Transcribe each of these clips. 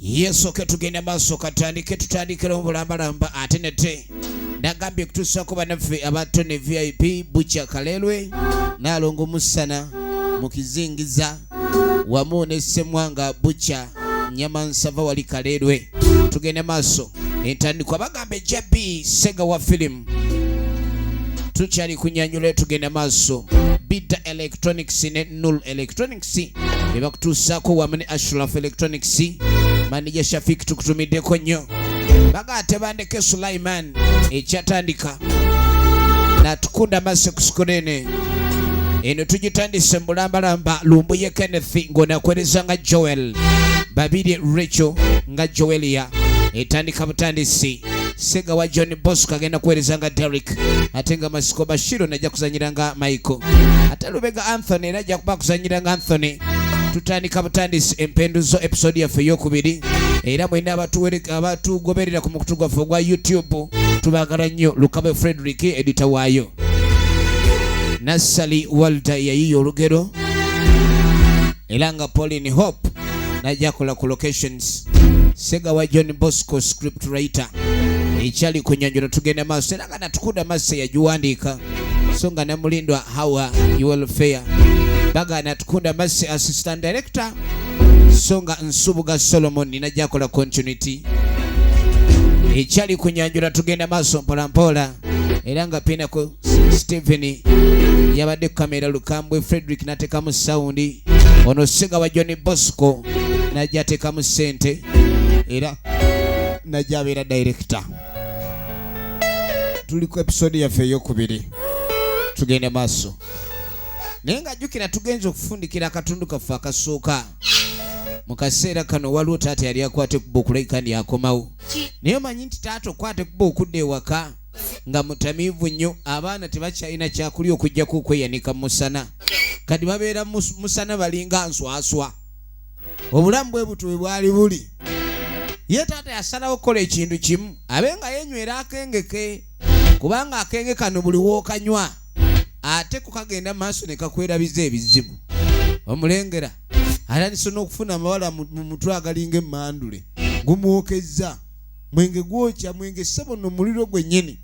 yesu ke tugende maaso katandike tutandikira obulambalamba ate nete nagambye kutuusako banaffe abato ne vip bukya kalelwe naalongo musana mu kizingiza wamu ne semwanga bukya nyama nsava wali kalelwe tugende maaso entandikwa bagamba ejja b sega wa filimu tukyali kunyanyula tugende maaso bidda electronics ne Nul Electronics bebakutuusaako wamu ne Ashraf Electronics manija Shafik tukutumiddeko nnyo baga tebandeke Sulaiman ekyatandika natukunda maso ku sikulene eno tugitandise mu bulambalamba lumbuye Kenneth ng'onakwereza nga Joel babirye Rachel nga Joelia etandika butandisi Senga wa John Bosco agenda kuweereza nga Derek ate nga Masiko Bashiro najja kuzanyira nga Michael ate Lubega Anthony era ajja kuba kuzanyira nga Anthony tutandika butandisi empenduzo episode yaffe eyokubiri era mwena abatugoberera ku mukutu gwaffe ogwa youtube tubagala nnyo lukabe frederick edita waayo nassali walda yayiya olugero era nga Pauline Hope najja akola ku locations sega wa John Bosco script writer ekyali ku nyanjula tugenda maaso era nga natukuda masse yagiwandiika so nga namulindwa hawa welfare bagana tukunda masse assistant director so nga nsubuga solomon ninajja akola continuity ekyali ku nyanjula tugenda maaso mpolampola era nga pinaku Steven yabadde kamera lukambwe Frederick natekamu sound ono siga wa John Bosco najja atekamu sente era najja abeera director tuli ku episode yaffe eyokubiri tugende maaso naye nga jjukira tugenza okufundikira akatundu kaffe akasooka mu kaseera kano waliwo taata yali akwata ekuba okulabika ndi akomawo naye omanyi nti taata okwata ekuba okudda ewaka nga mutamiivu nnyo abaana tebakyalina kyakulya okujjako okweyanika musana kati babeera musana balinga nswaswa obulamu bwe butwe bwali buli ye taata yasalawo okukola ekintu kimu abe nga yenywera akengeke kubanga akenge kano buli wookanywa ate kukagenda maaso ne kakwerabiza ebizibu omulengera atandise n'okufuna amawala mu mutwe agalinga emmandule gumwokezza mwenge gwokya mwenge ssebo no muliro gwennyini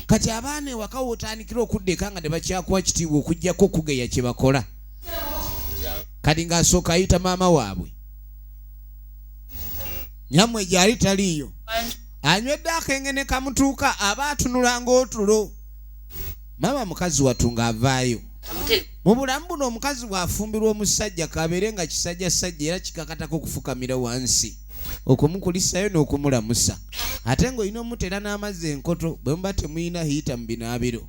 kati abaana ewaka wotandikira okudda eka nga tebakyakuwa kitiibwa okugyako okugeya kye bakola kati ng'asooka ayita maama waabwe nyammwe gyali taliiyo anywedde akenge ne kamutuuka aba atunula ng'otulo maama mukazi watu ng'avaayo mu bulamu buno omukazi bw'afumbirwa omusajja kabeere nga kisajjasajja era kikakatako okufukamira wansi okumukulisayo n'okumulamusa ate ng'olina omutera n'amazzi enkoto bwe muba temulina hiita mu binaabiro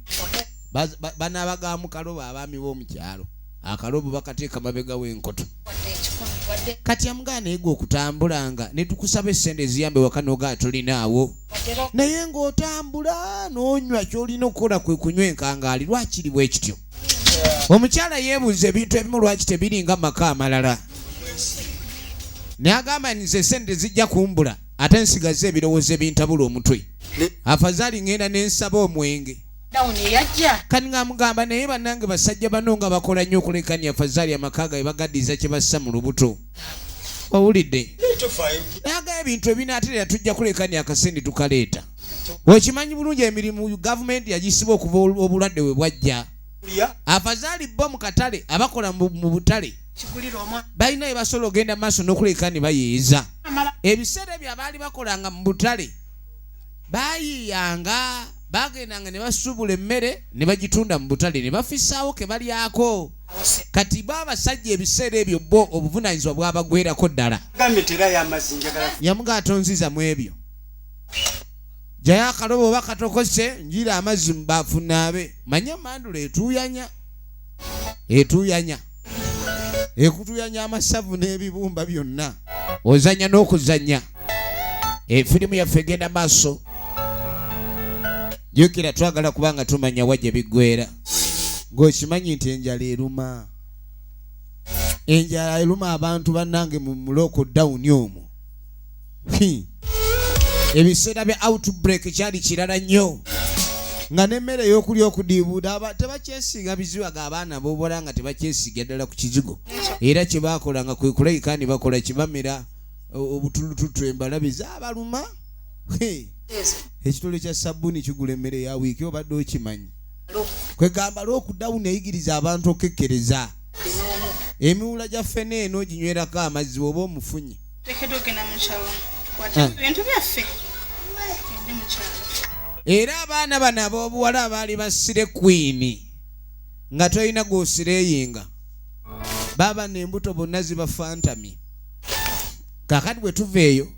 banaaba ga mu kalobo abaami b'omu kyalo akalobo bakateeka mabega w'enkoto kati amugaana ego okutambulanga ne tukusaba essente eziyambe waka nogaa tulinaawo naye ng'otambula n'onywa ky'olina okukola kwe kunywa enkangaali lwakiri bwe kityo omukyala yeebuuza ebintu ebimu lwaki tebiringa maka amalala nagamba nize sente zijja kumbula ate nsigaze ebirowoozo ebintabula omutwe afazaali ŋŋenda ne nsaba omwenge kati ng'amugamba naye bannange basajja bano nga bakola nnyo okulekani afazaali amaka gae bagaddiza kye bassa mu lubuto owulidde naga ebintu ebinaaterera tujja kulekani akasente tukaleeta okimanyi bulungi emirimu gavumenti yagisiba okuva obulwadde we bwajja afazaali bo mu katale abakola mu butale balina bye basobola ogenda maaso n'okuleka ne bayeeza ebiseera ebyo abaali bakolanga mu butale bayiiyanga bagendanga ne basuubula emmere ne bagitunda mu butale ne bafisaawo ke balyako kati bo abasajja ebiseera ebyo bo obuvunaanyizibwa bwabagwerako ddala yamuga atonziza mu ebyo jayo akalobo oba katokose njira amazzi mubaafu naabe manya mandula etuuyanya etuuyanya ekutuyanya amasavu n'ebibumba byonna ozanya n'okuzanya efirimu yaffe egenda maaso jukira twagala kubanga tumanya wa gye biggwera ng'okimanyi nti enjala eruma enjala eruma abantu bannange mu mulooko dawuni omwo ebiseera bya outbreak kyali kirala nnyo nga nemmere eyokulya okudiibuuda aba tebakyesinga biziba ga abaana bobola nga tebakyesiga ddala ku kizigo era kye baakola nga kwe kulayika ni bakola kibamera obutulututu embalabe zabaluma ekitole kya sabbuuni kigula emmere ya wiiki obadde okimanyi kwegamba lwokudawuni eyigiriza abantu okekkereza emiwula gya ffene eno ginywerako amazzi oba omufunye tekedwa ogenda mukyalo tukwate hmm. ebintu byaffe tugende mukyalo era abaana bano ab'obuwala abaali basire kwini nga tolina gwosireyinga baba nembuto bonna zibafantamye kakati bwe tuva eyo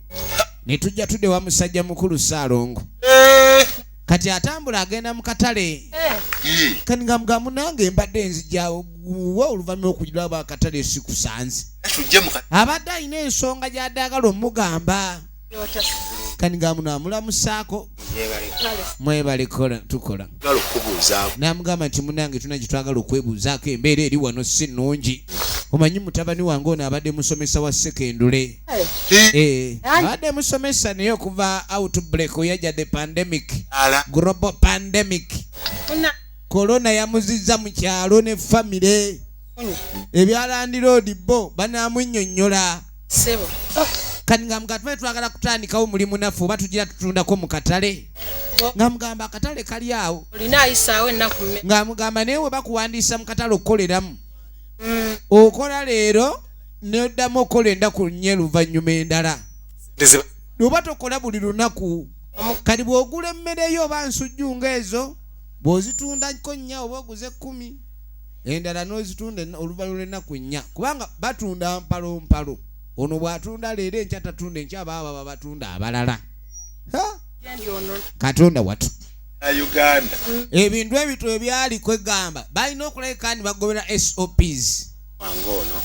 ne tujja tudewa musajja mukulu saalongo eh. kati atambula agenda mu katale eh. kani nga mga munange mbadde nzijawo wa oluvanyuma okujira aba akatale sikusanze abadde alina ensonga gyadagala omugamba kani nga muno amulamusaako mwebale tukola namugamba nti munange tuna gyetwagala okwebuuzaako embeera eri wano si nungi omanyi mutabani wange ono abadde musomesa wa sekendule Eh. Eh. Ade musomesa naye okuva outbreak yaja the pandemic global pandemic corona yamuziza mu kyalo ne famire ebyalandiroodi bo banaamunyonyola kati nga mugatube twagala kutandikawo mulimu naffe oba tugira tutundako mu katale nga mugamba akatale kali awo nga mugamba naye we bakuwandiisa mu katale okukoleramu mm. okola leero noddamu okukola endaku nye luvannyuma endala oba tokola buli lunaku kati bw'ogula emmereyo oba nsujju nga ezo bw'ozitundako nnya oba oguze kkumi endala n'ozitunda oluvannyuma lw'ennaku nnya kubanga batunda mpalompalo ono bw'atunda leero enkya tatunda enkya abaa baba batunda abalala katonda watu ebintu ebito ebyaliko egamba balina okulabika ni bagobera sops wange ono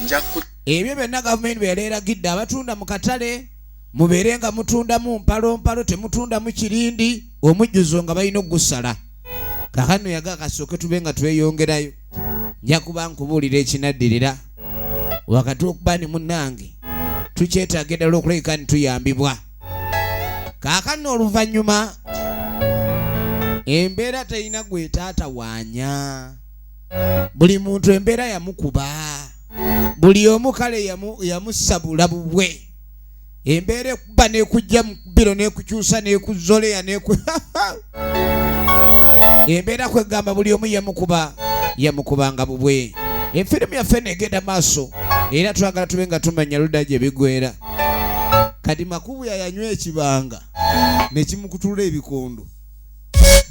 njakku ebyo byonna gavumenti bwe yali eragidde abatunda mu katale mubeere nga mutundamu mpalompalo temutundamu kirindi omujjuzo nga balina okugusala kakano yaga kasooke tube nga tweyongerayo nja kuba nkubuulira ekinaddirira wakati okuba ni munnange tukyetaaga eddala okulabika ni tuyambibwa kakano oluvannyuma embeera terina gwetaatawaanya buli muntu embeera yamukuba buli omu kale yamusabula bubwe embeera ekuba nekujja mukubiro nekukyusa nekuzoleya neku embeera kwegamba buli omu yamukuba yamukubanga bubwe efirimu yaffe negenda maaso era twagala tube nga tumanya luda gye bigwera kati makubu yayanywa ekibanga nekimukutula ebikondo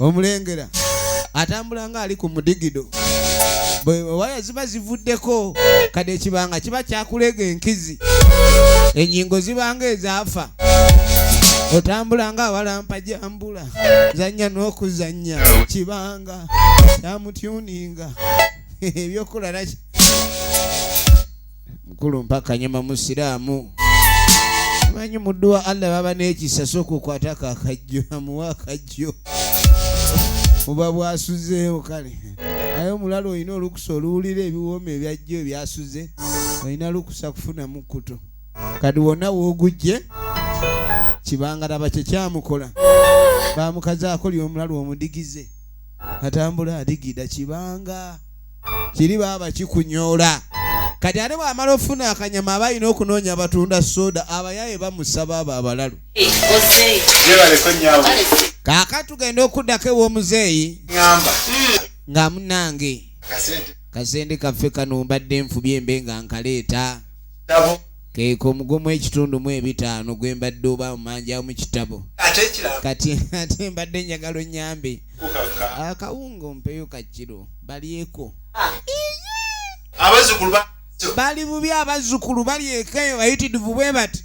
omulengera atambula nga ali ku mudigido waya ziba zivuddeko kade ekibanga kiba kyakulega enkizi enyingo zibanga ezaafa otambula nga awalampa jambula zanya n'okuzanya kibanga kyamutyuninga ebyokulalaki mukulu mpakanyama musiraamu manyi muddu wa allah baba n'ekisa sooka okwatako akajjo amuwa akajjo oba bwasuzeewo kale aye omulala olina olukusa oluwulira ebiwooma ebyajjo ebyasuze olina lukusa kufuna mukkuto kati wonna woogujje kibangalaba kyekyamukola bamukazaako lyomulalu omudigize atambula adigida kibanga kiri baaba kikunyoola kati ate bwamala ofuna akanyama aba alina okunoonya abatunda soda abayaye bamusaba abo abalalu kaka tugenda okuddako ew'omuzeeyi nga munange kasente kaffe kano mbadde nfubye mbe nga nkaleeta Keeka omugumu ekitundu mu ebitaano gwe mbadde oba omanjaawo mu kitabo. Kati ate mbadde njagala onnyambe akawunga ompeyo ka kiro balyeko. Bali bubi abazzukulu balyeko eyo bayitirivu bwe bati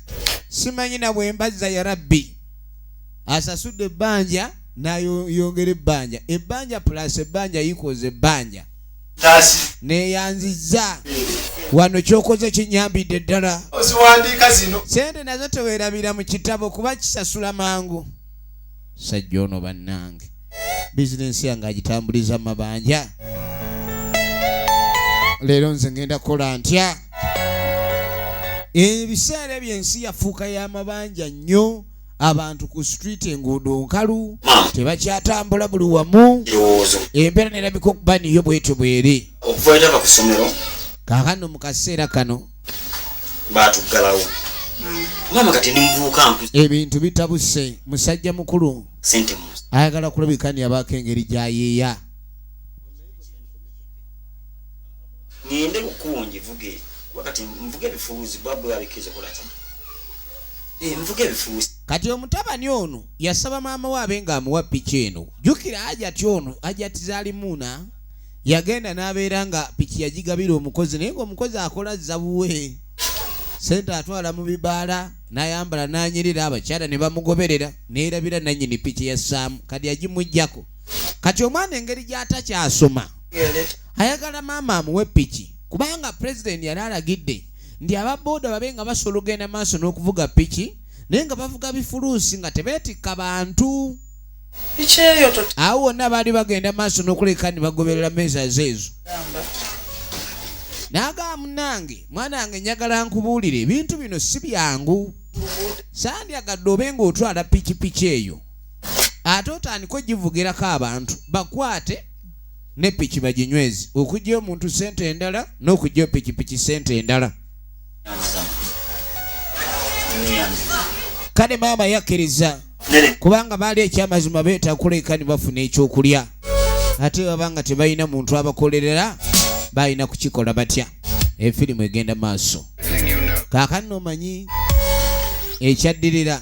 simanyi na bwe mbazza ya rabbi asasudde ebbanja nayongera ebbanja ebbanja pulasi ebbanja yikoza ebbanja neyanziza wano kyokoze kinyambidde ddala oziwandiika zino sente nazo tewerabira mu kitabo kuba kisasula mangu sajja ono bannange bizinensi yange agitambuliza mabanja leero nze ngenda kukola ntya ebiseera ebyo ensi yafuuka y'amabanja nnyo abantu ku street enguudo nkalu tebakyatambula buli wamu embeera nerabika okuba niyo bwetyo bweri kakano mu kaseera kano batuggalawo maama kati ndimuvuuka nku ebintu bitabuse musajja mukulu sente mu ayagala kulabika ni abaako engeri gyayeeya ngende ku kkubo ngivuge kuba kati nvuga ebifuuzi bwa bwe babikiriza kola ki eh, nvuga ebifuuzi kati omutabani ono yasaba maama we abe nga amuwa piki eno jjukira ajati ono ajati zalimuuna yagenda n'abeera nga piki yagigabira omukozi naye ngaomukozi akola zabuwe sente atwala mu bibaala n'ayambala n'anyirira abakyala ne bamugoberera neerabira nannyini piki ya ssaamu kadi yagimuggyako kati omwana engeri gyatakyasoma ayagala maama amuwe piki kubanga pulezidenti yali alagidde nti ababooda babe nga basobola okugenda maaso n'okuvuga piki naye nga bavuga bifuluusi nga tebeetikka bantu awo wonna baali bagenda maaso n'okuleka ne bagoberera meeza zeezo naagaa munange mwana wange njagala nkubuulire ebintu bino si byangu sandyagadde obe ng'otwala pikipiki eyo ate otandika ogivugirako abantu bakwate ne piki baginywezi okugya omuntu sente endala n'okugya pikipiki sente endala kale maama yakkiriza kubanga baali ekyamazima beetakula eka ne bafuna ekyokulya ate baba nga tebalina muntu abakolerera balina kukikola batya efirimu egenda maaso kaakano omanyi ekyaddirira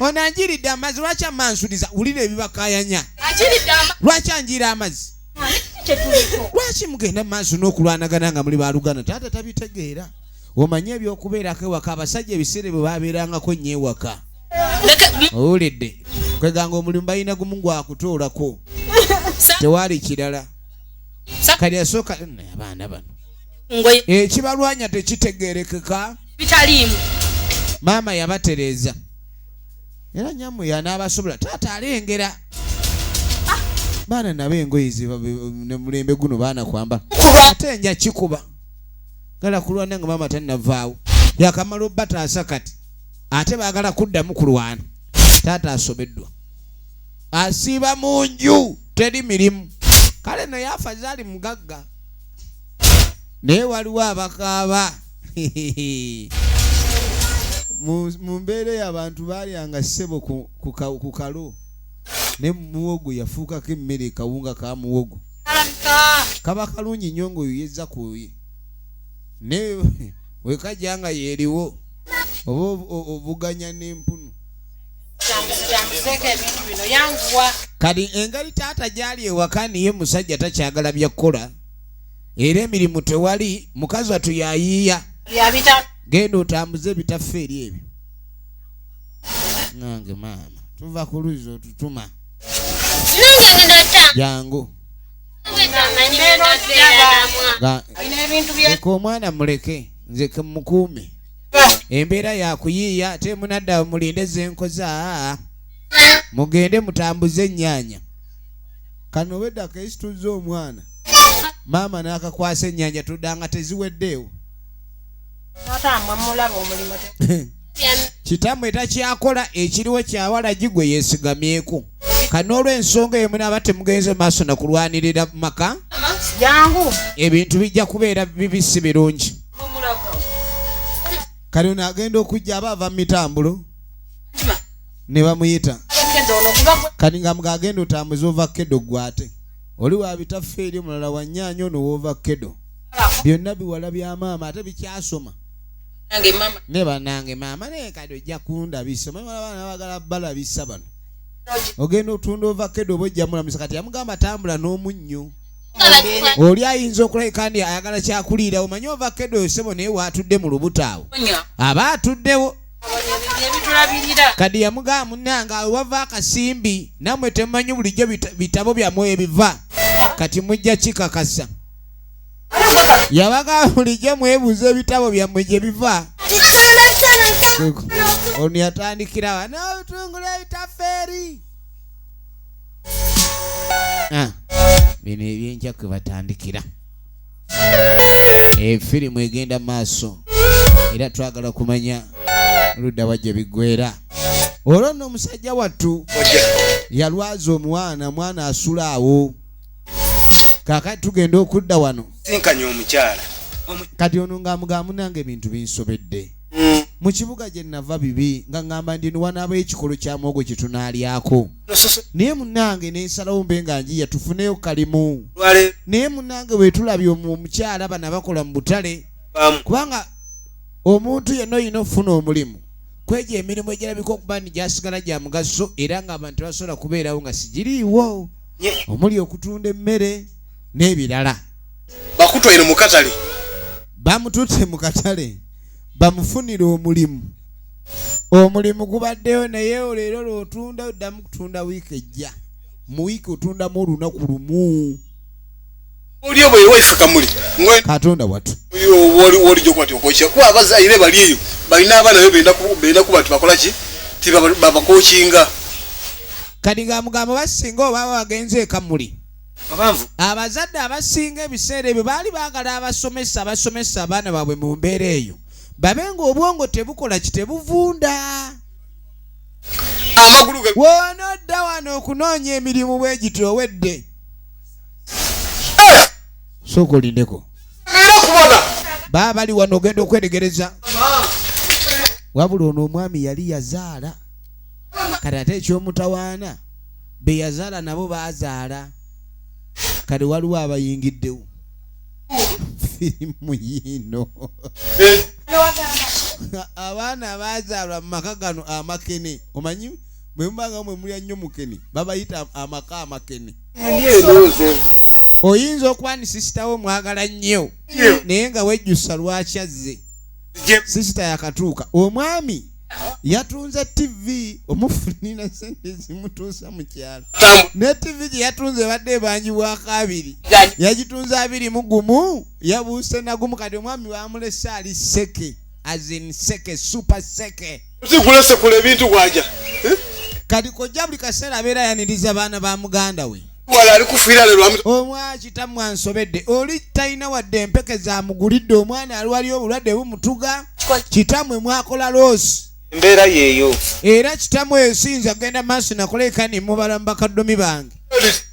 ono anjiridde amazzi lwaki amansuliza wulira ebibakayanya lwaki anjiira amazzi lwaki mugenda maaso n'okulwanagana nga muli baluganda taata tabitegeera omanye ebyokubeerako ewaka abasajja ebiseera bwe babeerangako nnyo ewaka owulidde kweganga omulimu balina gumu gwakutoolako tewaali kirala kali asooka abaana bano ekibalwanya tekitegeerekeka bitaliimu maama yabatereeza era nyamwe yanaabasobola taata alengera ah. baana nabo engoye nemulembe guno baana kwambala ate nja kikuba gala kulwana nga maama tannavaawo yakamala obataasa kati ate baagala kuddamu kulwana taata asobeddwa asiiba mu nju teri mirimu kale naye afazaali mugagga naye waliwo abakaaba mu mbeera eyo abantu baalyanga ssebo ku kalo ne muwogo yafuukako emmere kawunga ka muwogo kaba kalungi nnyo ngaoyo yezza kuye ne wekajja nga yeeriwo oba obuganya n'empunu kati engeri taata gyali ewaka niye musajja takyagala byakukola era emirimu tewali mukazi watu yayiiya genda otambuze ebitaffe eri ebyo nange maama tuva ku luzzi otutuma jangu eka omwana muleke nze kemukuume embeera yakuyiiya ate munadda mulinde zenkoza mugende mutambuze ennyanya kano obedda kesituzza omwana maama n'akakwasa ennyanja tuddanga teziweddeewo kitammwe takyakola ekiriwo kyawalagi gwe yeesigamyeko kanoolwensonga emu naaba temugenze maaso na kulwanirira mu maka ebintu bijja kubeera bibi si birungi kale ono agenda okujja aba ava mu mitambulo ne bamuyita kati nga mga agenda otambuza ova kedo gwate oli wabitaffe eri omulala wanyaanya ono woova kedo byonna biwala bya maama ate bikyasoma ne banange maama naye kati ojja kundabisa omanyi wala baana bagala balabisa bano ogenda otunda ova kedo oba ojja mulamusa kati yamugamba tambula n'omunnyo oli ayinza okulabika ndi ayagala kyakuliira omanyi ova kedo osebo naye waatudde mu lubutaawo aba atuddewo kadi yamugamba munange awe wava akasimbi namwe temumanyi bulijjo bitabo byamwe ebiva kati mujja kikakasa yabagamba bulijjo mwebuuza ebitabo byamwe gye biva ono yatandikirawa notungula ebitafeeri ah, bino ebyenkya kwe batandikira efirimu eh, egenda maaso era twagala kumanya ludda wa gye biggwera olwo nno omusajja wattu yalwaza omwana mwana asula awo kakati tugenda okudda wano sinkanya omukyala kati ono ngaamugamu nange ebintu binsobedde mm. mu kibuga gye nava bibi nga ngamba ndi niwanaaba ekikolo kya mwogo kye tunaalyako naye munange nensalawo mbe nga njiya tufuneyo kalimu naye munange wetulabye omukyala bana bakola mu butale kubanga omuntu yenna olina okufuna omulimu kwejo emirimu egirabika okuba ni gyasigala gya mugaso era nga abantu tebasobola kubeerawo nga sigiriiwo omuli okutunda emmere n'ebirala bakutwaire mu katale bamututte mu katale bamufunire omulimu omulimu gubaddeyo naye oleero lwotunda oddamu kutunda wiiki ejja mu wiiki otundamu olunaku lumu olio bwewefukamuli katonda watu wolijokwati okoca kuba abazaire bali eyo balina abaana be benda kuba tibakolaki tibabakokinga kati nga mugamba basinga oba bagenze ekamuli abazadde abasinga ebiseera ebyo baali baagala abasomesa abasomesa abaana baabwe mu mbeera eyo babe nga obwongo tebukola kitebuvunda woonodda wano okunoonya emirimu bwe giti owedde eh! sooka olindeko baa bali wano ogenda okwetegereza wabula ono omwami yali yazaala kati ate ekyomutawaana beyazaala nabo bazaala kati waliwo abayingiddewo firimu yiino abaana abazaalwa mu maka gano amakene omanyi bwe mubanga mwe mulya nnyo mukene babayita amaka amakene oyinza okuba ni sisitawo mwagala nnyo naye nga wejjusa lwaki azze sisita yakatuuka omwami yatunze tivi omufunira sente zimutuusa mu kyalo ne tivi gye yatunze ebadde ebanjibwako abiri yagitunze abiri mu gumu yabuuse nagumu kati omwami bamulese ali seke azin seke super seke zigulesekula ebintu bwaja eh? kati kojja buli kaseera abeera yaniriza baana ba muganda we omwaki tamu ansobedde oli talina wadde empeke zamugulidde omwana alwali obulwadde bumutuga kitamwe mwakola loosi embeera yeeyo era kitamwe esinza genda maaso nakola ekani mubala mubakaddomi bange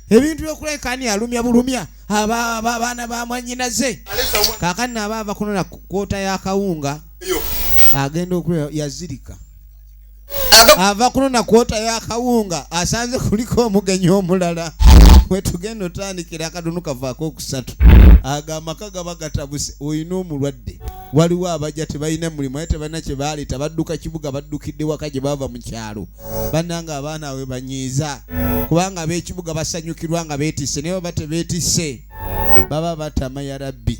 ebintu byokulekani alumya bulumya abaana bamwanyinaze kakani naaba avakunona kwota yakawunga agenda okulea yazirika ava kuno nakwotayo akawunga asanze kuliko omugenyi omulala wetugenda otandikira akadunu kavaako okusatu ago amaka gaba gatabuse olina omulwadde waliwo abajja tebalina mulimu aye tebalina kyebaleeta badduka kibuga baddukidde waka gye bava mu kyalo bannanga abaana awe banyiiza kubanga ab'ekibuga basanyukirwa nga beetisse naye baba tebeetisse baba batama ya rabbi